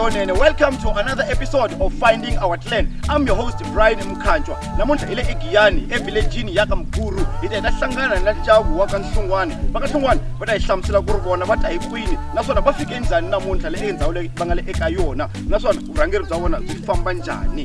Lonene. Welcome to another episode of Finding Our Clan. I'm your host Brian Mkhanjwa. Namuntlha ile eGiyani, evilejini ya ka Mguru. Hi ta hlangana na Jabu wa ka Nhlungwani. Va ka Nhlungwani va ta hi hlamusela ku ri vona va ta hi kwini naswona va fike njhani namuntlha le endhawu leyi va nga le eka yona naswona vurhangeri bya vona byi famba njhani.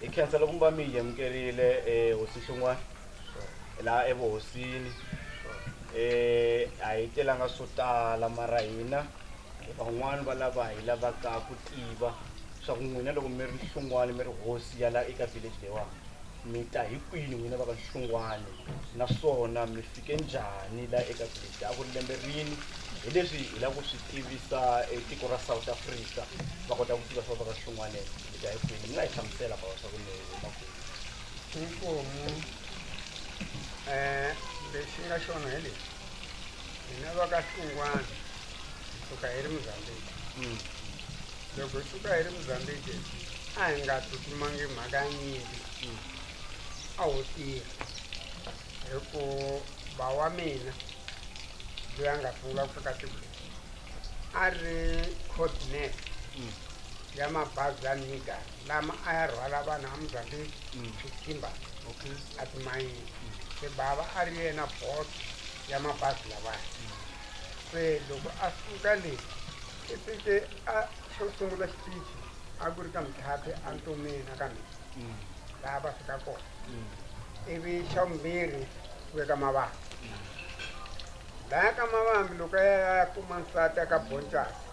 hi khensa loko mi va mi hi amukerile um hosi xin'wana laha evuhosini um a hi telanga swo tala mara hina van'wani va lava hi lavaka ku tiva swa ku n'wina loko mi ri nhlungwani mi ri hosi ya laha eka village leyiwani Mi ta hi kwini n'wina va ka Nhlungwane naswona mi fike njhani la eka Gibita? A ku ri lembe rini? Hi leswi hi lava ku swi tivisa e tiko ra South Africa va kota ku tiva swa va ka Nhlungwane mi ta hi kwini. Mi nga hi hlamusela bava swa ku mi huma kwini? Inkomu um lexi nga xona hi lexi hina va ka Nhlungwane hi suka hi ri Mozambique loko hi suka hi ri mozambiki a hi nga tsutsumangi mhaka ya nyimpi a ho tirha hi ku ba wa mina loyi a nga sungula ku fika tiko leri a ri coordinate ya mabazi ya niga lama a ya rhwala vanhu a mozambiki swikhimba a timayini se bava a ri yena bot ya mabazi lawaya se loko a suka le Kipike a xo sungula xipichi a ku ri ka mitlhathi a ntomeni ka mina laha va fika kona ivi xa vumbirhi ku veka mavambi laya ka mavambi loko ya kuma nsati aka boncasi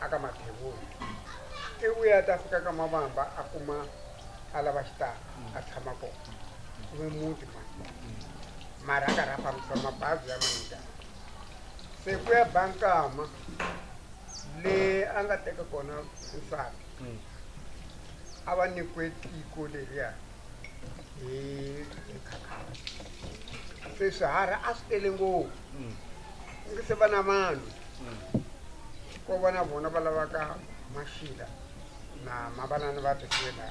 aka mathevula i vuya ta fika ka mavamba a kuma a lava xitalo a tshama kona kuve muti mani mara a ka rha fambisa mabazi ya manjani se ku ya ba nkama le a nga teka kona nsati a va nyikiwe tiko leriya hi hi khakhara se swiharhi a swi tele ngopfu ngi se va na vanhu ko va na vona va lavaka maxila na mavanani va tisela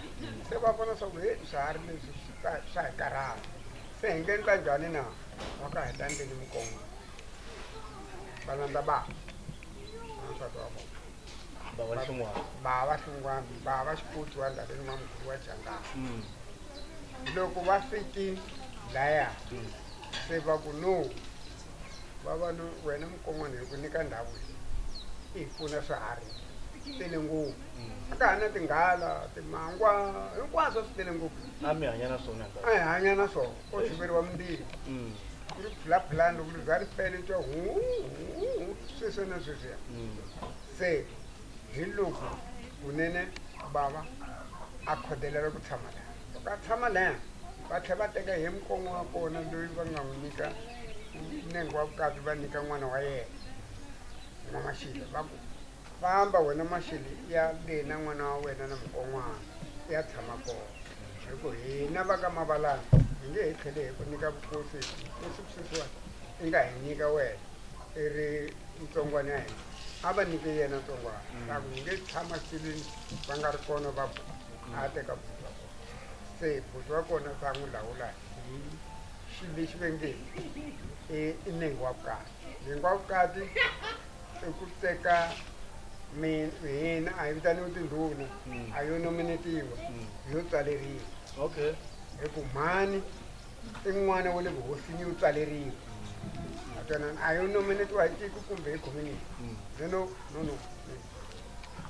se va vona swa ku he swiharhi leswi swi ka- swa hi karhala se hi nge endla njhani na waka hi ta endleni mikongo va landza ba wansati wa vona bava xin'wana bava xin'wana bava xiputsi wa ndhaveni wa muguru wa jangana mm. loko va fiki laya mm. se va ku no vavanu wena mukon'wana hi ku nyika ndhawu leyi i hi pfuna swiharhi swi tele ngopfu mm. ka ha na tinghala timangwa hinkwaswo swi tele ngopfu a mi hanya na swona a hi hanya na swona ko hluveriwa mbilu ku ri phulaphulani loko liza ri fele twa huhuhu sweswo na sweswiya se hi loko kunene bava a khodelela ku tshama laha loko a tshama laha va tlhela va teka hi mukongo wa kona loyi va nga n'wi nyika nengo wa vukati va nyika n'wana wa yena n'wamaxile va ku Famba, wena Maxele, i ya le na n'wana wa wena na mukon'wana, i ya tshama kona. Hi ku hina va ka Mavalana hi nge hi tlhele hi ku nyika vukosi leswi sweswiwani i nga hi nyika wena, i ri ntsongwana ya hina. A va nyike yena ntsongwana, ta ku, Hi nge tshama xitilwini va nga ri kona va buti. A a teka buti wa kona. Se buti wa kona se a n'wi lawula hi xilo lexi va nge i i nenge wa vukati. Nenge wa vukati. i ku teka mi- hina a hi vitaniwi tindhuna a yo nominetiwa hi yo tswaleriwa okay hi ku mhani i n'wana wa le vuhosini yo tswaleriwa a twanana a yo nominetiwa hi tiko kumbe hi community no no no no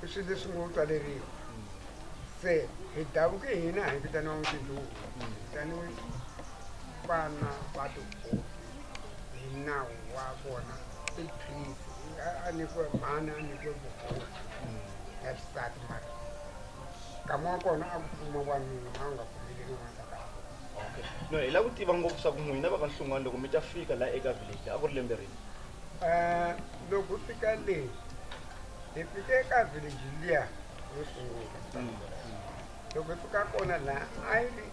i swilo leswi ngo tswaleriwa se hi davuke hina hi vitaniwa tindhuna vitaniwe vana va tihosi hi nawu wa vona i prince A- a nyikiwe mhani a nyikiwe vuhosi ya xisati mara nkama wa kona a ku pfuma wanuna a wu nga pfumeleli n'wansa ka okay no hi la ku tiva ngopfu swa ku n'wina va ka nhlungwani loko mi ta fika la eka village a ku ri lembe rini Eh, loko u fika le hi fike eka village liya yo sungula loko hi fika kona la a yi ri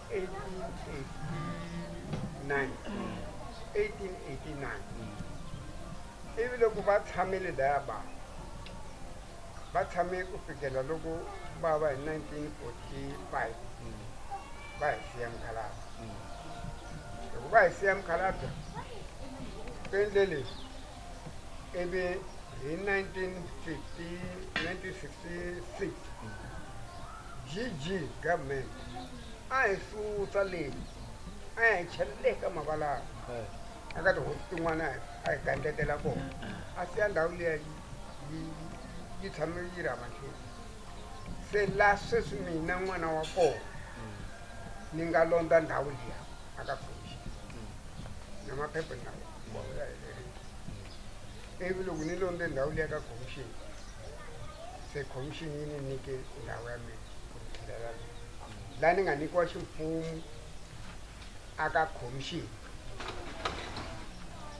1889 1889 ivi loko va tshamile laya ba va tshame ku fikela loko va va hi 1945 va hi siya mukhalabye loko va hi siya mukhalabye ku endle leswi ivi hi 1950 1966 GG government a hi susa leyi a ya hi chela le ka mavalava a ka tihosi tin'wana a hi gandletela kona a siya ndhawu liya yi- yi- yi tshame yi ri hamahleni se la sweswi mina n'wana wa kona ni nga londza ndhawu liya a ka khomixi na maphepha na wona wa helerile ivi loko ni londze ndhawu liya ka khomixini se khomixini yi ni nyike ndhawu ya mina ku ni tlhelela mina laha ni nga nyikiwa ximfumo aka khomixini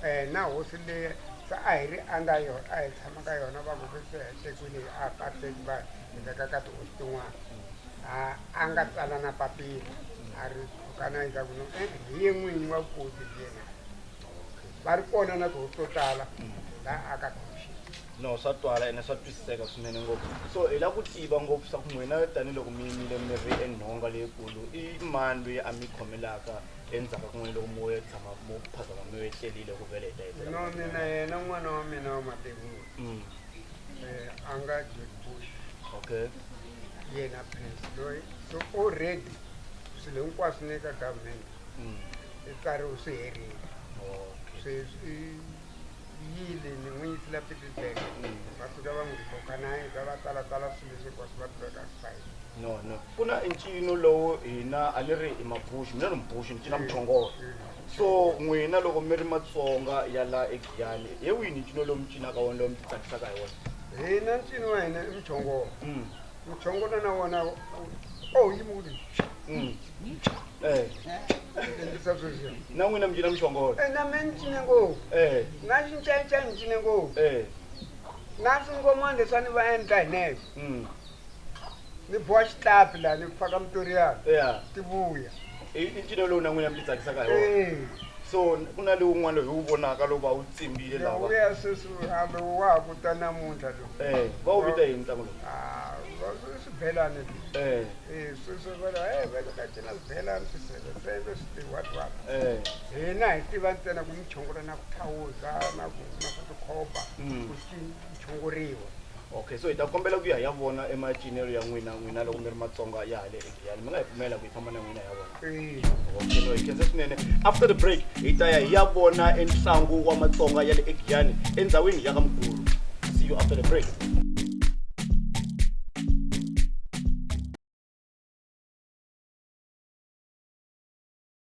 um na hosi leyi se a hi ri anga yona a hi tshama ka yona va ngoke se hetekwini a pateki va hi veka ka tihosi tin'wana a nga tsala na papila a ri khukana endzhaku no e hi ye n'winyi wa vukosi hi yena va ri kona na tihosi to tala laha aka khomixini No, swa twala ene swa twisiseka swinene ngopfu. So hi lava ku tiva ngopfu swa ku n'wina tanihiloko mi yimile mi ri enhonga leyikulu i mani loyi a mi khomelaka endzhaku ka n'wina loko mo ya tshama mo phazama mi etlelile ku vele hi ta hetelela no mina yena n'wana wa mina wa mativula Mm, eh, a nga george bush okay yena prince loyi so already swilo hinkwaswo ni ka government Mm, i tsariwe swi herile okay sweswi yile ni n'wi yisela pietersburg va fika va n'wi koka na heta va talatala swilo leswi hinkwaswo va tiveka ku fa yini no no ku na ncino lowu hina a ni ri i mabuxi mina ni mubuxi ni cina muchongolo so n'wina loko mi ri matsonga ya la egiyani hi wihi ni ncino lowu mi cinaka wona lowu mi titsakisaka hi wona hina ncino wa hina i muchongolo muchongolo na wona oh yi muli mm. eh. na n'wina mi cina muchongolo eh, na me ni cine ngopfu eh. na xincaica ni cine ngopfu eh. na swingomani leswa ni va endla hi neve mm. ni boha xitlapi laha ni faka mutoriyana yeah. ti vuya i ncino lowu na n'wina mi ti tsakisaka hi wona so ku na lowun'wana loyi wu vonaka lowu va wu tsimbile lawa ya sweswi a lowu wa ha kuta namuntlha lowu Eh, va wu vita yini ntlangu lowu Ah, va- swi- swibelani Eh, Eh, swi- swi- va- eh, va le ka cina swibelani swiseveseve switiwhatwat eh, hina hi tiva ntsena ku muchongolo na ku thawuza na ku na swa tikhoba Mm. ku ci- chongoriwa okay so hi ta kombela ku ya hi ya vona emacinelo ya n'wina n'wina loko mi ri matsonga ya hale yani mi nga hi pfumela ku yi famba na n'wina ya vona Okay, no, hi khensa swinene after the break hi ta ya hi ya vona entlangu wa matsonga ya le egiyani endhawini ya ka mukulu see you after the break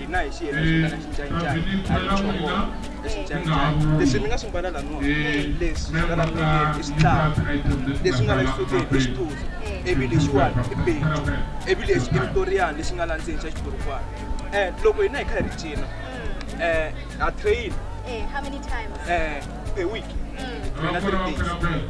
hina hi xi heta xitana xincanyicanyi a hi choko exincanyicanyi leswi mi nga swi mbala laniwa leswi nga la milengeni i switlava leswi nga la xisutini i xituzu ivi lexiwani i petu ivi lexi i mitoriyani lexi nga la ndzeni xa xiburukwana um loko hina hi kha hi ri cina um ha train um a week mina mm. three days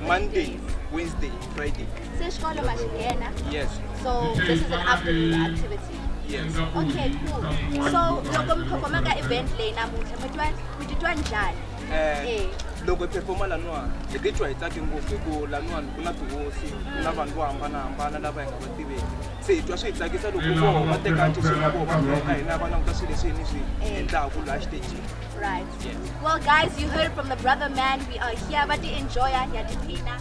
monday wednesday friday se xikolo ma xi nghena yes so this is an afternoon activity Yes. Okay, cool. So loko mi performa ka event leyi namuntlha mi twa mi titwa njhani? Eh, Eh. loko hi performa laniwa hi titwa hi tsake ngopfu hikuva laniwani ku na tihosi ku na vanhu vo hambanahambana lava hi nga va tiveki se hi twa swi hi tsakisa loko voho va teka ntisi na voho va bloka hina va languta swilo leswi hi ni swi endlaku laha xitejini Right. Well, guys, you heard from the brother man. We are here, but enjoy ya tiphina.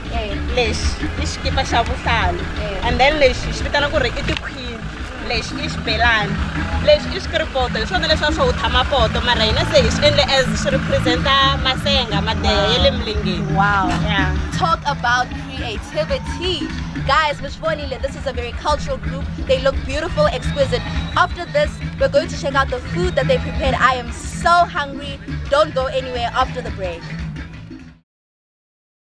eh. lexi i xikipa xa vuhlalu eh. and then lexi xi vitana ku ri i tikhwini lexi i xibelani lexi i xikiripoto hi swona leswi a swo wu tshama poto mara hina se hi swi endle as swi representa masenga madeha ya le milengeni wow yeah. talk about creativity guys mi swi vonile this is a very cultural group they look beautiful exquisite after this we're going to check out the food that they prepared i am so hungry don't go anywhere after the break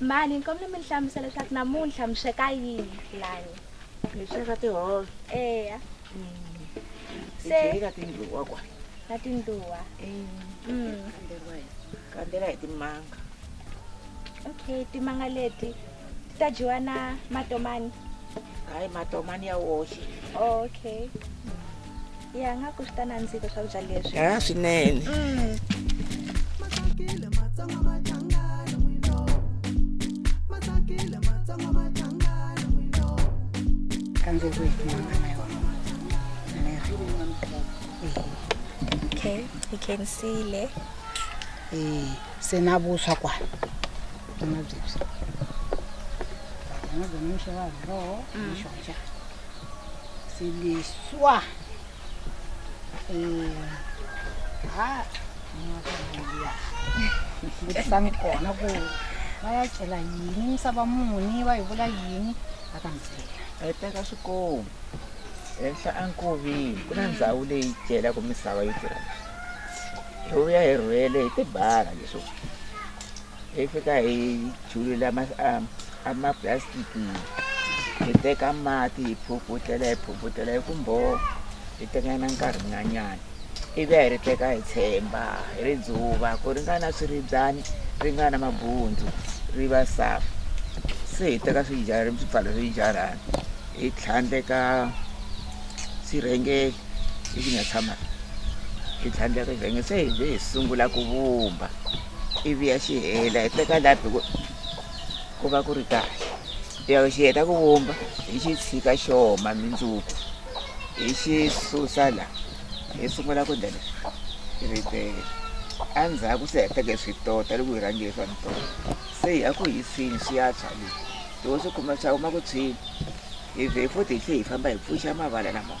mani ni kombela mi ni hlamusa leswaku namuntlha mi sweka yini lani mi sweka tihove eya se ka tindluwa kwa na tindluwa Mm. kandzela hi timanga okay timanga leti ti ta dyiwa na matomani hayi matomani ya woxe okay ya nga ku swi ta nandzika swakudya leswi a ah, swinene mm. okay i can see le eh se na vuswa kwana na byebyi na byona mixo wa roho mixo njhani C'est le soir. Eh, ha, ngiyakhala. Ukuthi sangikhona ku bayatshela yini saba muni bayivula yini akamtshela. Eh, teka swikomu henhla enkoveni ku na ndhawu leyi dyelaka misava yo tirha hi vuya hi rhwele hi tibara leswo hi fika hi julula amapulasitiki hi teka mati hi phuputela hi phuputela hi ku mbhoho hi tekanyana nkarhi nyanyana ivi a hi ri teka hi tshemba hi ri dzuva ku ri nga na swiribyani ri nga na mabundzu ri va safa se hi teka swijarhi swi pfala swijarhani hi tlhandleka swirhengeli leswi nga tshama hi tlhandleka swirhengeli se hi ve hi sungula ku vumba ivi ya xi hela hi teka lapi ku ku va ku ri kahle ya xi heta ku vumba hi xi tshika xi oma mindzuku hi xi susa la hi sungula ku ndlela ritele endzhaku se heteke swi tota loko hi rhange swa mintota se hi ya ku hisini swi ya tshwa le loko swi kuma swa huma ku tshwini hi vhe futhi hi tlhe hi famba hi pfuxa mavala lamawa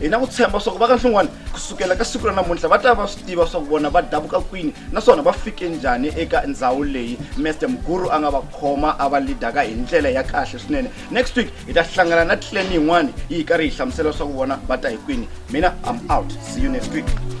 hi na ku tshemba swa ku va ka nhlin'wana ku sukela ka siku ra namuntlha va ta va swi tiva swa ku vona va davuka kwini naswona va fike njhani eka ndhawu leyi mester muguru a nga va khoma a va lidaka hi ndlela ya kahle swinene next week hi ta hlangana na tleni yin'wana yi hi karhi hi hlamusela swa ku vona va ta hi kwini mina i'm out see you next week